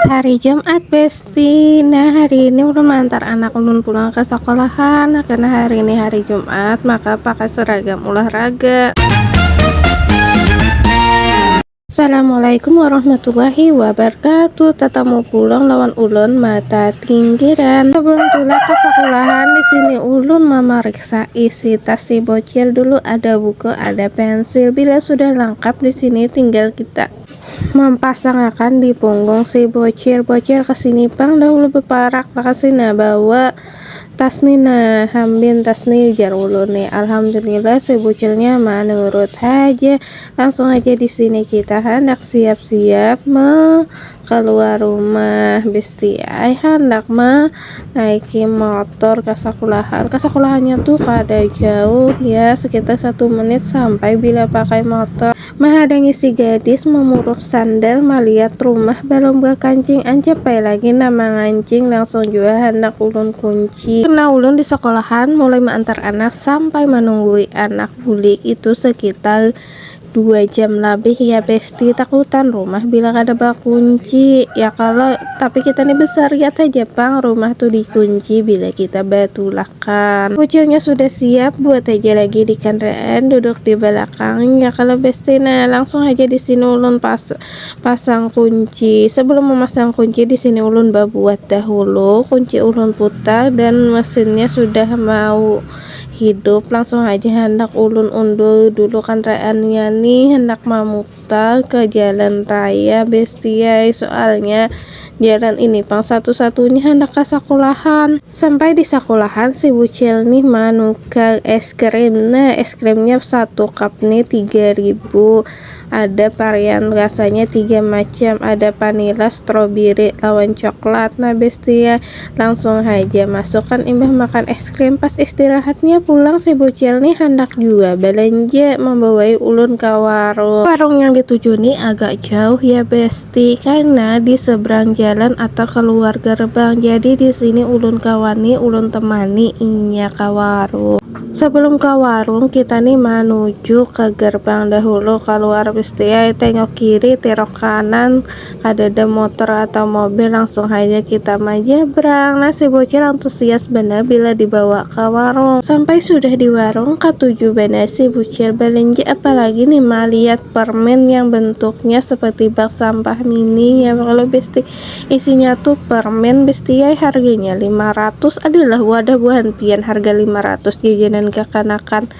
Hari Jumat Besti Nah hari ini ulun mengantar anak ulun pulang ke sekolahan nah, Karena hari ini hari Jumat maka pakai seragam olahraga Assalamualaikum warahmatullahi wabarakatuh Tatamu pulang lawan ulun mata tinggiran Sebelum tulak ke sekolahan di sini ulun memeriksa isi tas si bocil dulu Ada buku, ada pensil Bila sudah lengkap di sini tinggal kita Mampasangakan di punggung si Bocil. Bocil ka sini pang dahulu baparak lakasi nah bawa tas ni nah. Hambin tas ni ujar ulun ni. Alhamdulillah si Bucilnya manurut haja. Langsung haja di sini kita handak siap-siap ma kaluar rumah. Besti ai handak ma naiki motor ka sakulahan. Ka sakulahannya tu kada jauh ya, sekitar satu menit sampai bila pakai motor. Mahadangi si gadis mamuruk sandal maliat rumah balum bakancing ancap ai lagi nang mangancing langsung jua handak ulun kunci karna ulun di sakolahan mulai maantar anak sampai manunggui anak bulik itu sekitar dua jam labih ya besti takutan rumah bila kada bakunci ya kalo. Tapi kita nih besar, lihat aja pang rumah tuh dikunci bila kita batulakan. Kucilnya sudah siap, buat aja lagi di kandaraan, duduk di balakangnya. Kalau besti nah, langsung haja di sini ulun pas pasang kunci. Sebelum memasang kunci, di sini ulun babuat dahulu. Kunci ulun putar dan mesinnya sudah mau hidup. Langsung haja handak ulun undur dulu kandaraannya nih, handak mamutar. Tol ke jalan raya bestie ai soalnya jalan ini pang satu satunya handak ka sakulahan. Sampai di sakulahan si bucil nih manukar es krim nah es krimnya satu cup nih tiga ribu ada parian rasanya tiga macam ada panila strobiri lawan coklat nah bestie Langsung haja masukan imbah makan es krim pas istirahatnya pulang si bucil nih handak jua balanja membawai ulun ka warung. Warung yang dituju nih agak jauh ya besti karna di seberang jalan atau keluar gerbang jadi di sini ulun ka wani ulun temani inya ka warung. Sebelum ka warung kita nih manuju ke gerbang dahulu keluar besti ai tengok kiri terok kanan kadada motor atau mobil langsung haja kita manyebrang nah si bocil antusias banar bila dibawa ka warung sampai sudah di warung katuju banar si bucil balanja apalagi nih malihat permen yang bentuknya seperti bak sampah mini ya Allah besti isinya tuh permen bestiai harganya lima ratus adalah wadah buhan pian harga lima ratus jajanan kakanakan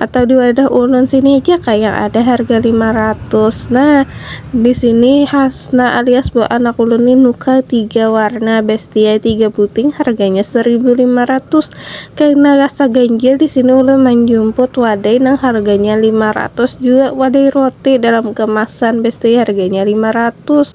atau di wadah ulun sini aja kah yang ada harga lima ratus nah di sini hasna alias buah anak ulun nih nuka tiga warna bestia tiga buting harganya seribu lima ratus karena rasa ganjil di sini ulun manjumput wadai nang harganya lima ratus jua wadai roti dalam kemasan bestia harganya lima ratus.